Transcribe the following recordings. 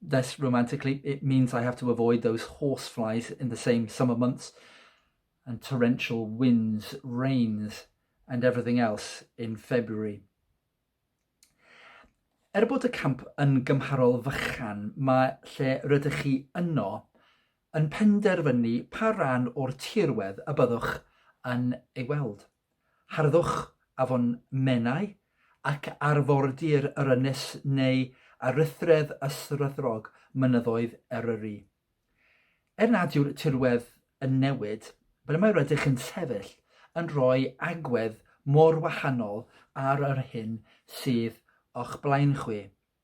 this romantically, it means I have to avoid those horse flies in the same summer months and torrential winds, rains and everything else in February. Er bod y camp yn gymharol fychan, mae lle rydych chi yno yn penderfynu pa ran o'r tirwedd y byddwch yn ei weld. Harddwch afon Menai ac arfordir yr ynys neu aruthredd ysrydrog mynyddoedd Eryri. Er nad yw'r tirwedd yn newid, ble mae rydych yn sefyll yn rhoi agwedd mor wahanol ar yr hyn sydd o'ch blaen chwi.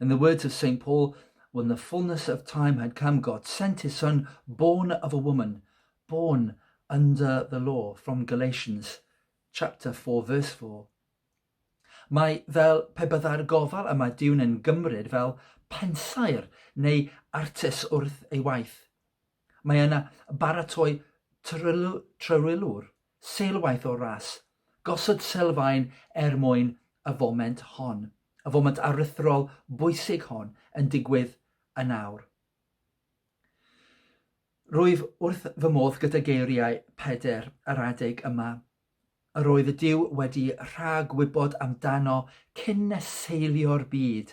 In the words of Saint Paul, when the fullness of time had come, God sent his son, born of a woman, born under the law, from Galatians chapter 4 verse 4. Mae fel pe byddai'r gofal y mae Duw'n yn gymryd fel pensaer neu artes wrth ei waith. Mae yna baratoi trylwylwr Seilwaith o'r ras. Gosod sylfaen er mwyn y foment hon, y foment aruthrol bwysig hon yn digwydd yn awr. Rwyf wrth fy modd gyda geiriau Pedr yr adeg yma. Yr oedd y Duw wedi rhag-wybod amdano cyn neseilio'r byd,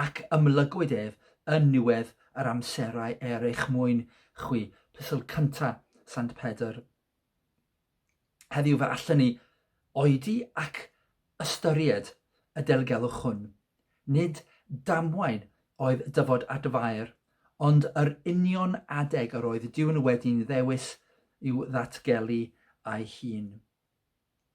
ac ymlygwyd ef yn niwedd yr amserau er eich mwyn chwi. Plisl cynta Sant Pedr Heddiw fe allen ni oedi ac ystyried y delgelwch hwn. Nid damwain oedd dyfod at Fair, ond yr union adeg yr oedd Duw yn wedi'n ddewis i'w ddatgelu ei hun.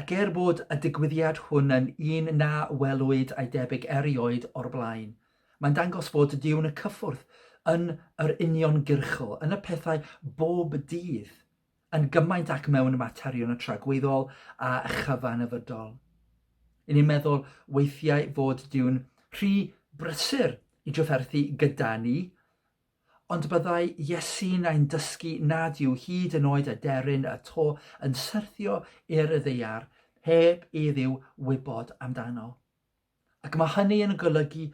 Ac er bod y digwyddiad hwn yn un na welwyd a'i debyg erioed o'r blaen, mae'n dangos fod Duw yn y cyffwrdd yn yr uniongyrchol, yn y pethau bob dydd, yn gymaint ac mewn materion y tragwyddol a chyfanafydol. Yn ni'n meddwl weithiau fod Duw'n rhy brysur i drafferthu gyda ni, Ond byddai Iesu'n ein dysgu nad yw hyd yn oed aderyn y to yn syrthio i'r ddaear heb i Dduw wybod amdano. Ac mae hynny yn golygu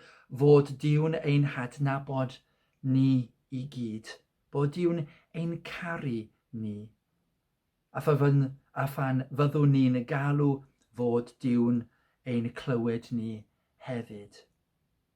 fod Duw'n ein hadnabod ni i gyd, bod Duw'n ein caru ni. A phan, a phan fyddwn ni'n galw fod Duw'n ein clywed ni hefyd.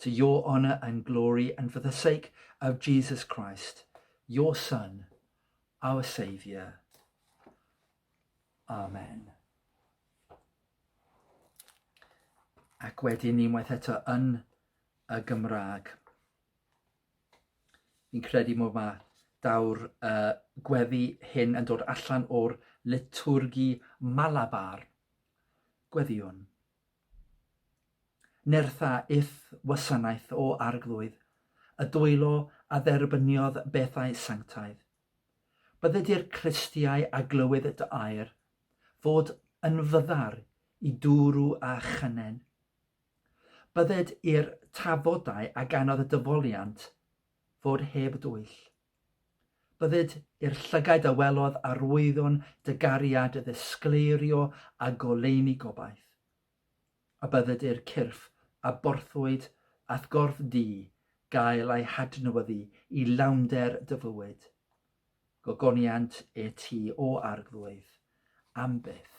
To your honour and glory and for the sake of Jesus Christ, your Son, our Saviour. Amen. Ac wedyn ni waith eto yn y Gymraeg. Fi'n credu mod mae daw'r uh, gweddi hyn yn dod allan o'r litwrgi malabar. Gweddiwn. Nertha If wasanaeth o Arglwydd y dwylo a dderbyniodd bethau sanctaidd. Bydde di'r Clistiau a glywyd dy air, fod yn fyddar i dŵrw a chynen. Bydded i'r tafodau a ganodd y dyfoliant fod heb dwyll. Bydded i'r llygaid a welodd arwyddion dy gariad ddisgleirio a goleuni gobaith, a bydded i'r cyrff a borthwyd a'th gorff di gael eu hadnewyddu i lawnder dy fywyd. Gogoniant e ti, O Arglwydd, am byth.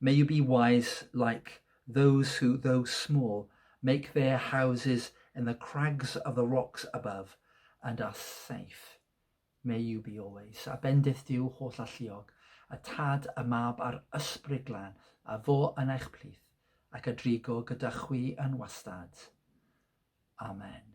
May you be wise like those who, though small, make their houses in the crags of the rocks above and are safe. May you be always. A bendith Duw holl alluog, y Tad, y Mab a'r Ysbryd Glân, a fo yn eich plith, ac a drigo gyda chwi yn wastad. Amen.